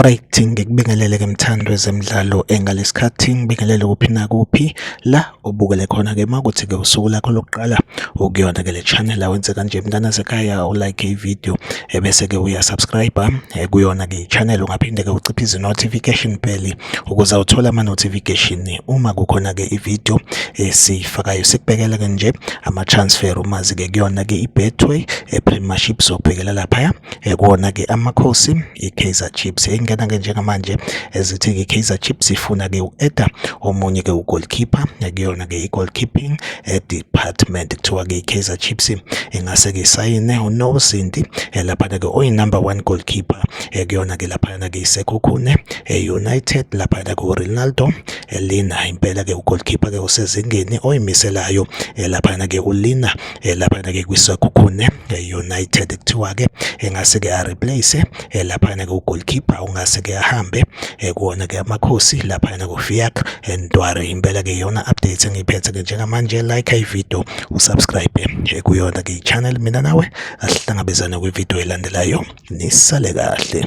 Alright, ngikubingelele ke mthando wezemidlalo engalesikhathi ngibingelele kuphi nakuphi la ubukele khona ke makuthi ke usuku lakho lokuqala ukuyona ke le channel awenze kanje mntana sekhaya u like i video ebese ke uya subscribe eh, kuyona ke channel ungaphinde ke uciphe izi notification bell ukuze uthole ama notification uma kukhona ke i video esifakayo sikubekela ke nje ama transfer umazi ke kuyona ke i betway e premiership sokubhekela lapha Ekona ke amakhosi iKaizer Chiefs engena ke njengamanje ezithi ke iKaizer Chiefs ifuna ke uEda omunye ke ugoalkeeper ekuyona ke igoalkeeping eh, department kuthiwa ke iKaizer Chiefs ingase ke sayine uNozinti eh, lapha ke oyi number 1 goalkeeper ekuyona eh, ke lapha ke iSekhukhune eUnited lapha ke uRonaldo Lina impela ke ugoalkeeper ke usezingeni oyimiselayo lapha ke uLina eh, laphana ke kwisakhukhune eh, United kuthiwa ke engase ke areplace eh, laphana ke ugoalkeeper ungase ke ahambe kuwona ke amakhosi laphana kuFiak Ntware impela ke yona update engiphethe ke njengamanje like i video usubscribe kuyona ke channel mina nawe asihlangabezane kwi video elandelayo nisale kahle